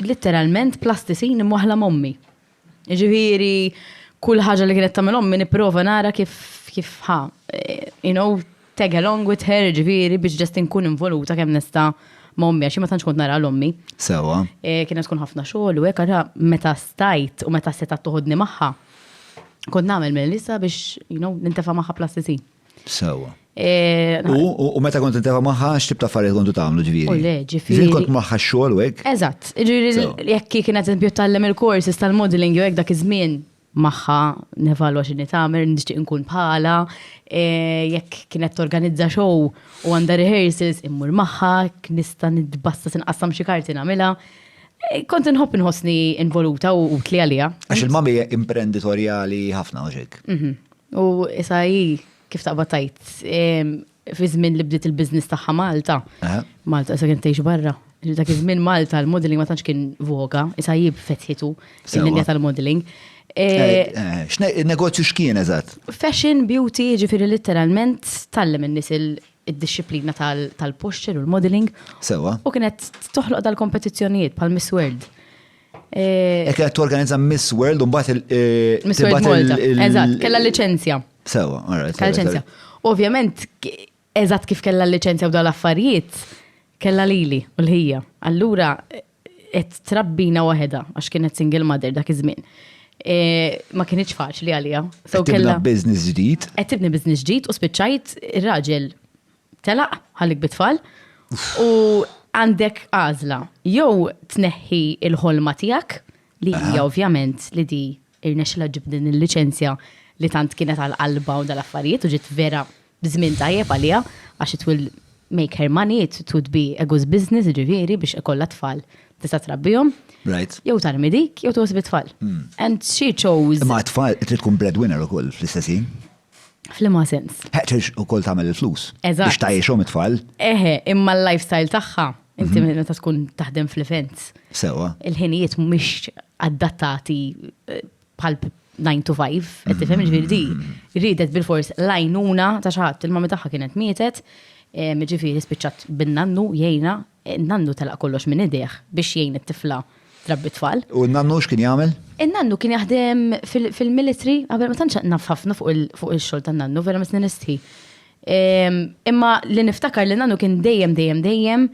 litteralment plasticine imwaħla m'ommi. Ġifieri kull ħaġa li kienet tagħmel ommi nipprova nara kif kif ħa, eh, you know, tag along with her, ġifieri biex ġest inkun involuta kemm nista' ma' ommi għax ma tantx kont nara l-ommi. Sewa. Eh, kienet tkun ħafna xogħol u hekk għara meta stajt u meta seta' toħodni magħha. Kont nagħmel minn lisa biex, you know, nintefa' magħha plasticine. Sewa. Eh, u meta kont intefa maħħa, xtib ta' affarijiet kontu tagħmlu ġviri. U le, ġifiri. Ġviri kont maħħa xogħol u hekk. Eżatt, jekk kien eżempju tallem il-courses tal-modeling jew hekk dak iż-żmien maħħa nevalwa x'inhi tagħmel, nixtieq nkun bħala, eh, jekk kienet torganizza show u għandha rehearsals immur maħħa, nista' nitbassa sinqassam xi karti nagħmilha. Eh, kont nħobb nħossni involuta u tli għalija. Għax il-mami imprenditorjali ħafna uġek. Mhm. U issa hi kif taqbad tgħid, fi żmien li bdiet il-business tagħha Malta, Malta issa kienet tgħix barra. Dak iż-żmien Malta l-modelling ma tantx kien voga, issa hi fetħitu l-linja tal-modelling. X'negozju x'kien eżatt? Fashion, beauty, jiġifieri litteralment tgħallem in-nies id-dixxiplina tal-posture u l-modelling. U kienet toħloq dal-kompetizzjonijiet bħal Miss World. Ekk qed torganizza Miss World u mbagħad il- Miss World Malta. Eżatt, kellha liċenzja. Sewa, alright. Kellha liċenzja. Ovvjament, eżatt kif kellha liċenzja u dal affarijiet, kellha lili u l-ħija. Allura, qed trabbina waħedha għax kienet single mother dak iż-żmien. E, ma kienx faċli għalija. So kellha business ġdid. Qed tibni business ġdid u spiċċajt ir-raġel telaq ħallik bit-tfal u għandek għażla jew tneħħi l-ħolma tiegħek li hija ovvjament li di irnexxilha ġib din il-liċenzja li tant kienet għal qalba u dal-affarijiet u ġiet vera b'żmien tajjeb għaliha għax it will make her money, it would be a good business ġifieri biex ikollha tfal tista' trabbihom. Right. Jew tarmi dik, jew tħoss bit-tfal. Hmm. And she chose. Ma tfal trid tkun breadwinner ukoll fl-istessin. Flima sens. Ħeċeġ u kol tamel il-flus. Eżatt. Biex tajiexom it-tfal. Eħe, imma l-lifestyle tagħha, inti mhm. meta tkun taħdem fl-events. Sewa. Il-ħinijiet mhumiex adattati eh, bħal 9 to 5, qed tifhem mhm. ġifieri di ridet bil-fors lajnuna ta' xaħat il-mami tagħha kienet mietet, eh, ġifieri spiċċat bin-nannu jgħina In-nannu telaq kollox minn idejh biex jgħin it-tifla trabbi t-tfal. U n-nannu x'kien jagħmel? In-nannu kien jaħdem fil-military, qabel ma tantx naf ħafna fuq ix-xogħol tan-nannu, vera mistni nistħi. Imma li niftakar li nannu kien dejjem dejjem dejjem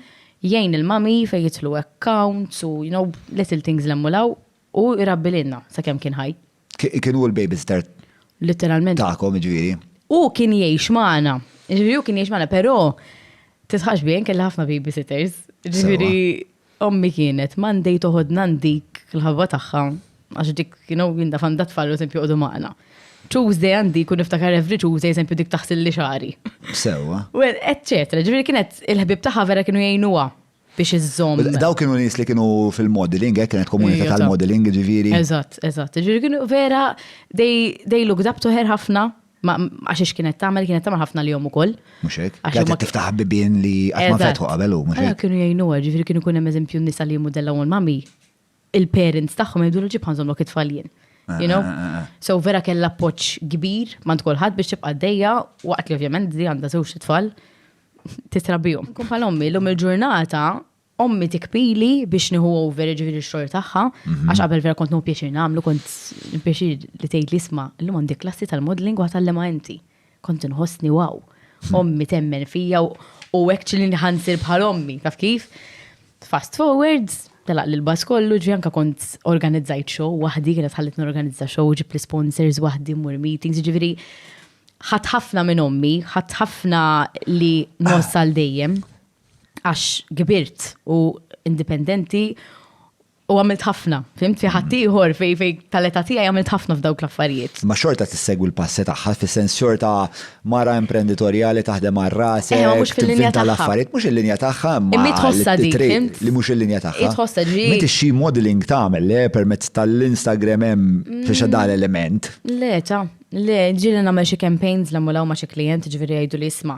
jgħin il-mami fejn jidħlu accounts u you know little things l-hemm u l-hawn u jrabbi lilna sakemm kien ħaj. Kien hu l-babysitter tagħkom, jiġifieri. Hu kien jgħix magħna. Jiġifieri hu kien jgħix magħna, però titħax bih kelli ħafna babysitters. Jiġifieri ommi kienet Monday toħodna ndik il-ħabba tagħha għax dik kienu jinda fanda tfal u sempi joqogħdu magħna. Tuesday għandi kun niftakar every Tuesday sempi dik taħsil li xari. Sewa. Well, eċċetra, ġifieri kienet il-ħbib tagħha vera kienu jgħinuha. biex iżżomm. Daw kienu nies li kienu fil-modeling, hekk eh, kienet komunità tal-modeling ġifieri. Eżatt, eżatt. Ġifieri kienu vera they looked up to her ħafna għax ix kienet tagħmel kienet tagħmel ħafna li jom ukoll. Mhux hekk. Għax ma tiftaħ bibien li qatt ma fetħu qabel hu mhux hekk. Kienu jgħinu ġifieri kienu kun hemm eżempju nisa li jmudella u mami il-parents tagħhom jgħidulu ġib ħanżhom lok it-tfal jien. You know? So vera kellha appoġġ kbir mand kulħadd biex tibqa' dejja waqt li ovvjament di għandha żewġ tfal titrabihom. Kun bħal ommi, l-om il-ġurnata ommi tikpili biex nieħu over ġifieri x-xogħol tagħha, mhm. għax qabel vera kont nħu pjaċir nagħmlu kont pjaċir li tgħid li isma' llum għandi klassi tal-modeling u ħatallema inti. kont nħossni wow. Ommi temmen fija u actually nħansir bħal ommi, taf kif? Fast forwards, telaq li l-bas kollu ġi anka kont organizzajt show wahdi, kienet ħallit n-organizza show ġib l-sponsors wahdi mur meetings, ġiviri ħat ħafna minn ommi, ħat ħafna li nossa l dejjem għax gbirt u indipendenti U għamilt ħafna, fimt fi ħadd ieħor fej fej tal-età tiegħi għamilt ħafna f'dawk l-affarijiet. Ma xorta tissegwi l-passi tagħha fis-sens xorta mara imprenditorjali taħdem għal rasek. Eh, mhux fil-linja tagħha. L-affarijiet mhux il-linja tagħha imma. Imma tħossha dik, fimt? Li mhux il-linja tagħha. Tħossha ġi. Meta xi modeling tagħmel le eh, permezz tal-Instagram hemm mm. fi xadar element. Le, ta, le, ġieli nagħmel xi campaigns l-ammulaw ma' xi klient ġifieri jgħidu li isma'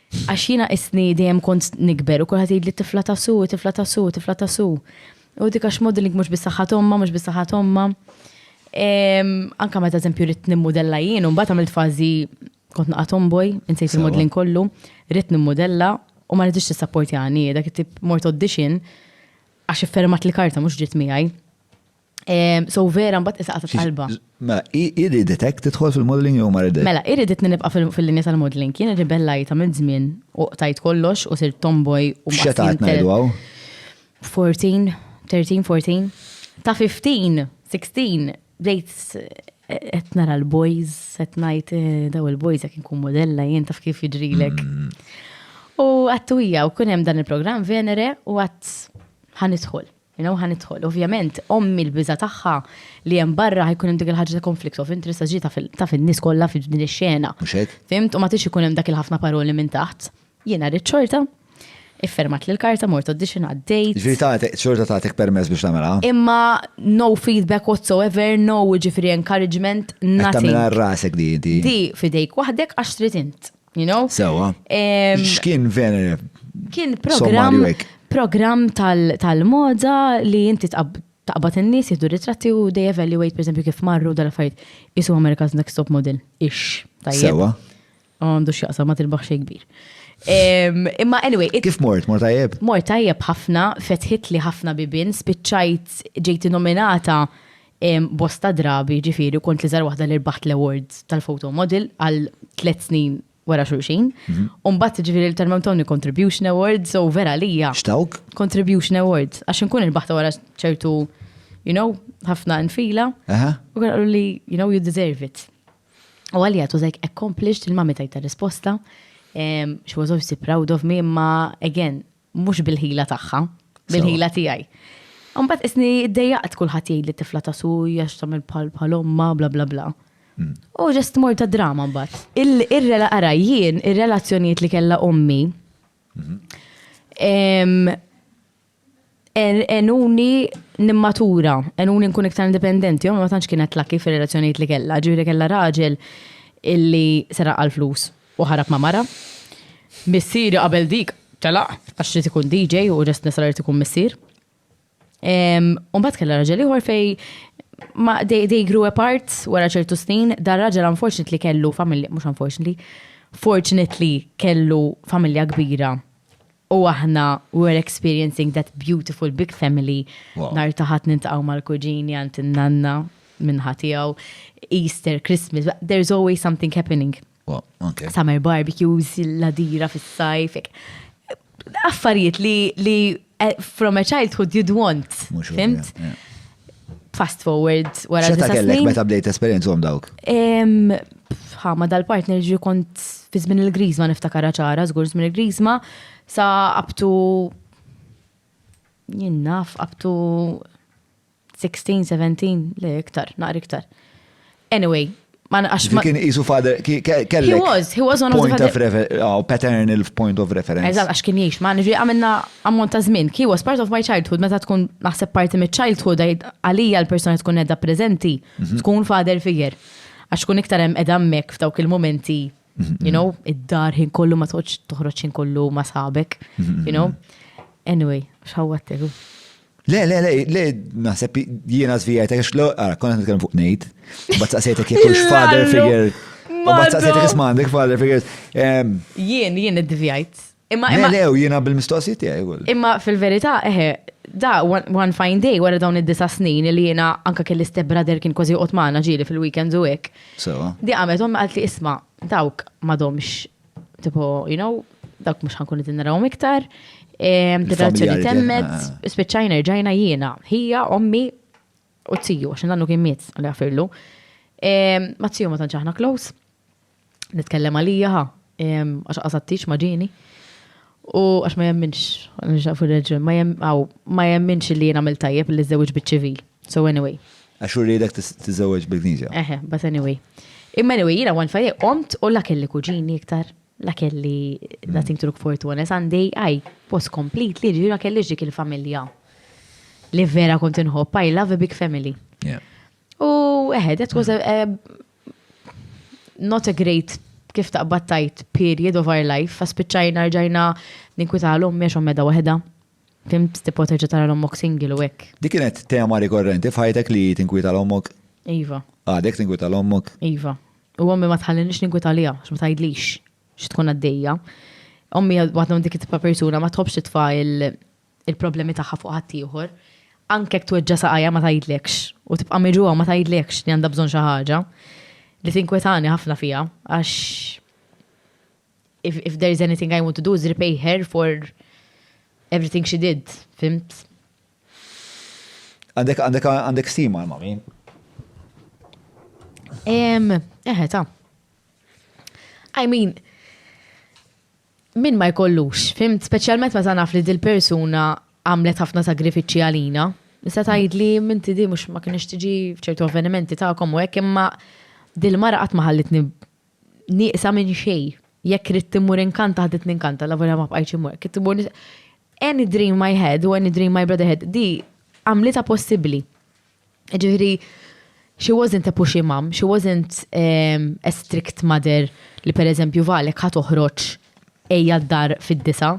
Għax jiena qisni dejjem kont nikber u kulħadd jgħidli tifla ta' Sue, tifla ta' Sue, tifla ta' Sue. U dik għax modelling mhux biss saħħa t'ommha, mhux biss saħħa t'ommha. Anke meta eżempju ridt nimmudella jien u mbagħad għamilt fażi kont naqa' tomboy, insejt il-modelling kollu, ridt nimmudella u ma riditx tissapportjani, dak it-tip mort audition għax iffermat l-karta mhux ġiet miegħi. So vera mbagħad isa qasat qalba. Ma iridet hekk tidħol fil-modeling jew ma iridet. Mela, iridet nibqa' fil-linja tal-modeling. Kien irribellajta minn żmien u qtajt kollox u sir tomboy u ma. Xeta qed ngħidu hawn? 14, 13, 14. Ta' 15, 16, bdejt qed nara l-boys, qed ngħid eh, daw il-boys jekk inkun modella jien taf kif jiġrilek. Mm. U għattu hija u kun hemm dan il-programm Venere u għadd ħanidħol. You know, ħa nidħol. Ovvjament, ommi l-biża tagħha li hemm barra ħajkun hemm dik il-ħaġa ta' conflict of interest ġi ta' fin-nies kollha fi din ix-xena. Fimt, u ma tix ikun hemm dak il-ħafna paroli minn taħt. Jiena rrid xorta, iffermat li l-karta mort audition għaddejt. Ġifieri tagħtek xorta tagħtek permess biex tagħmilha. Imma no feedback whatsoever, no ġifieri encouragement, nothing. Tagħmilha rasek di. Di fidejk waħdek għax trid int. You know? Sewa. X'kien Venere? Kien programm programm tal-moda li inti taqbad in-nies jieħdu ritratti u they evaluate pereżempju kif marru dal-affarijiet isu America's Next Top Model. Ix. Sewa. Għandu x'jaqsam ma tilbaħ xejn kbir. Imma anyway. Kif mort, mort tajjeb? Mort tajjeb ħafna, fetħit li ħafna bibin, spiċċajt ġejti nominata Bosta drabi, jiġifieri, kont l-iżgħar waħda li rbaħt l-awards tal-photo model għal tliet snin wara xulxin. U mbagħad, jiġifieri, l-Termem Tawni Contribution Awards, so vera għalija. X'tawk? Contribution Awards, għax inkun irbaħtha wara ċertu, you know, ħafna nfila. Aha. U kienu qaluli, you know, you deserve it. U għalija, it was like accomplished, il-mummy tajta risposta. Em, She was obviously proud of me, imma again, Mhux bil-ħila tagħha, bil-ħila tiegħi. Imbagħad isni ddejjaqt kulħadd jgħid li tifla ta' suj għax tagħmel bħal omma bla bla bla. Hmm. U ġest mor ta' drama mbagħad. Ir-rela ara jien, ir-relazzjonijiet li kellha ommi. Hmm. Enuni nimmatura, enuni nkun iktar indipendenti, ommi ma tantx kienet laki fir-relazzjonijiet li kellha, ġifieri kellha raġel illi seraq għal flus u ħarab ma' mara. Missieri qabel dik telaq għax irid ikun DJ u Rest Nisra irid ikun missier. U mbagħad kellha raġel ieħor fej ma they, they grew apart wara ċertu snin, dar raġel unfortunately kellu familja, mhux unfortunately, fortunately kellu familja kbira U aħna we're experiencing that beautiful big family. Nhar ta' Ħadd niltaqgħu mal-kuġini għand in-nanna minn ħa tiegħu. Easter, Christmas, there's always something happening. Summer barbecues, l-għadira fis-sajf. Affarijiet li eh, from a childhood you'd want, fimt? fast forward wara disa snin. kellek meta bdejt esperienza għom dawk? Ha, ma dal-partner ġi kont fi żmien il-grizma niftakar ċara, żgur żmien il-grizma, sa abtu jinnaf abtu 16, 17, le iktar, naqri iktar. Anyway, ma naqax ma. Kien jisu father, kellek. He was, he was one of the father. Point of reference, oh, paternal point of reference. Eżat, għax kien jiex, ma nġi għamilna ammont ta' zmin. He was part of my childhood, meta tkun naħseb parti mit childhood għalija l-persona tkun edha prezenti, mhm. tkun father figure. Għax tkun iktar hemm edha mek f'dawk il-momenti You know, id-dar ħin kollu ma toħġ toħroġ ħin kollu ma sabek. You know? Anyway, xawwattek. Le, le, le, le, naħseb jiena zvijajta, għax lo, għara, konna nitkellem fuq nejt, bat saqsejtek jek ux father figure. U bat saqsejtek ismandek father figure. Jien, jien id-zvijajt. Imma imma. Lew jiena bil-mistoqsijiet tiegħi wkoll. Imma fil-verità eħe, da one fine day wara dawn id-disa' snin li jiena anke kelli step brother kien kważi joqgħod magħna ġieli fil-weekends u hekk. Sewa. Di qamet ommi qalt li isma' dawk m'għadhomx tipo, you know, dawk mhux ħankun qed narahom iktar. Relazzjoni temmet, spiċċajna rġajna jiena, ħija, ommi u t-tiju, għax nannu kien miet li għafirlu. Ma t-tiju ma tanċaħna close. Nitkellem għalija ha, għax qasattix ma ġini. U għax ma jemminx, nġaf il-reġun, ma jemminx li jena mil tajjeb li zewġ bieċivi. So anyway. Għax u rridek t-zewġ bil-kniġa. Eħe, but anyway. Imma anyway, jena għan fajje, omt u la kelli kuġini iktar, la kelli nothing to look forward to honest, għandi għaj, was complete li ġira kelli ġik il-familja. Li vera kont inħobb, I love a big family. U eħe, that was a, not a great kif taqbad tajt period of our life, fa spiċċajna rġajna ninkwita għal ommi għax ommeda waħda. Fim tipo terġa tara l-ommok single u hekk. Di kienet tema rikorrenti f'ħajtek li tinkwita l-ommok? Iva. Għadek tinkwita l-ommok? Iva. U ommi ma tħallinix ninkwita li għax ma tajdlix xi tkun għaddejja. Ommi għadna dik it-tipa persuna ma tħobx titfa' il-problemi tagħha fuq ħaddieħor, anke jekk tweġġa' saqajha ma tgħidlekx u tibqa' miġugħa u ma tgħidlekx li għandha bżonn xi ħaġa, li tinkwetani ħafna fiha għax if, if there is anything I want to do is repay her for everything she did, fimt? Għandek, għandek, għandek stima l-mami? Ehm, eħe, ta' I mean, Min ma jkollux, fhimt, speċjalment meta naf li dil-persuna għamlet ħafna sagrifiċċji għalina. Tista' tgħidli, inti di mhux ma kinitx tiġi f'ċertu avvenimenti tagħkom u hekk imma dil-mara qatt ma ħallitni nieqsa minn xejn. Jekk ridt immur inkanta ħaditni inkanta lavolja ma bqajtx immur. Kif immur any dream I had u any dream my brother had di għamlitha possibbli. Ġifieri, she wasn't a pushy mum, she wasn't ehm, a strict mother li per eżempju valek ħa toħroġ ejja d-dar fid-disa.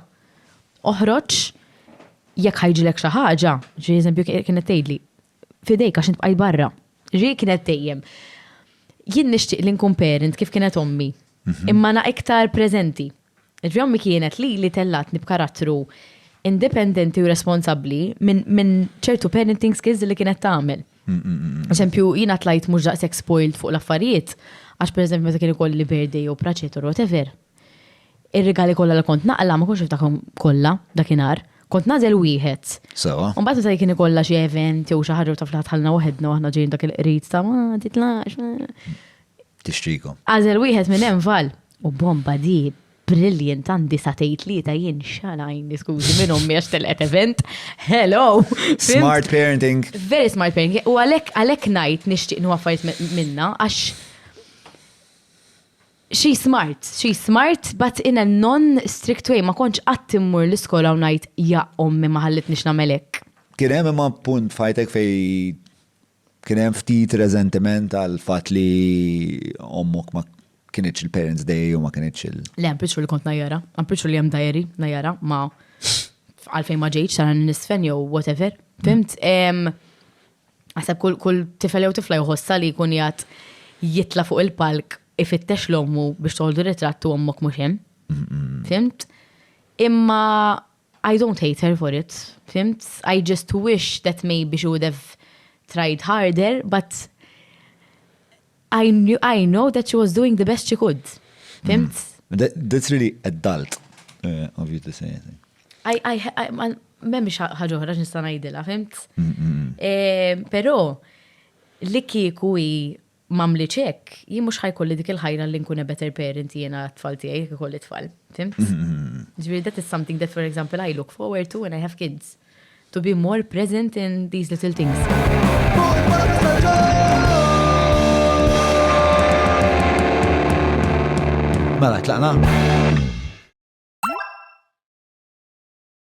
Oħroġ jekk ħajġilek xi ħaġa, ġi eżempju kienet tgħidli, fidejk għax int bqajt barra. Ġi kienet dejjem. Jien nixtieq li nkun parent kif kienet ommi, mhm. imma na iktar preżenti. Ġvjommi kienet li li tellgħatni b'karattru independenti u responsabbli minn ċertu parenting skills li kienet tagħmel. Eżempju, jiena tlajt mhux daqshekk spoiled fuq l-affarijiet, għax pereżempju meta kien ikolli birthday jew praċet or whatever, ir-rigali kollha li kont naqla' ma kontx niftakhom kollha dakinhar, kont nagħżel wieħed. Sewwa. U mbagħad meta kien ikollha xi event jew xi ħaġa u taf li ħa tħallina waħedna u aħna ġejjin dak il-qrid ta' ma titlaqx. tixtrikom. Agħżel wieħed minn hemm Val. U bomba di, brilliant għandi sa tgħid tlieta jien x'għal għajni skużi minn ommi għax telqet event. Hello! Smart parenting. Very smart parenting. U għalhekk għalhekk ngħid nixtieq nieħu affarijiet minna għax she smart, she smart, but in a non-strict way, ma konċ qatt immur l-iskola u ngħid ja ommi ma ħallitniex nagħmel hekk. Kien hemm imma punt fajtek fej Kien hemm ftit reżentiment għal fatt li ommok ma kienitx il-parents day u ma kienitx il. Le, I'm pretty sure li kont najjara. I'm pretty sure li hemm dajeri najjara ma għalfejn ma ġejtx sara nisfen jew whatever. Fimt? Għasab kull tifel jew tifla jħossa li jkun jgħat jitla fuq il-palk ifittex l-ommu biex toħdu ritratt u ommok mhux hemm. Fimt? Imma I don't hate her for it, fhimt? I just wish that maybe she would have tried harder, but I knew, I know that she was doing the best she could. Fhimt? Mm. That, that's really adult uh, of you to say, I think. I, I, I, I memx ħagħu ħraġ nista' ngħidilha, fimt? Mm, mm, mm. Eh, però li kieku hi m'għamlitx hekk, jien mhux ħa jkolli dik il-ħajra li nkun a better parent jiena għat-tfal tiegħi jekk ikolli tfal. Fhimt? Ġifieri that is something that for example I look forward to when I have kids. To be more present in these little things. Mela, tlaqna?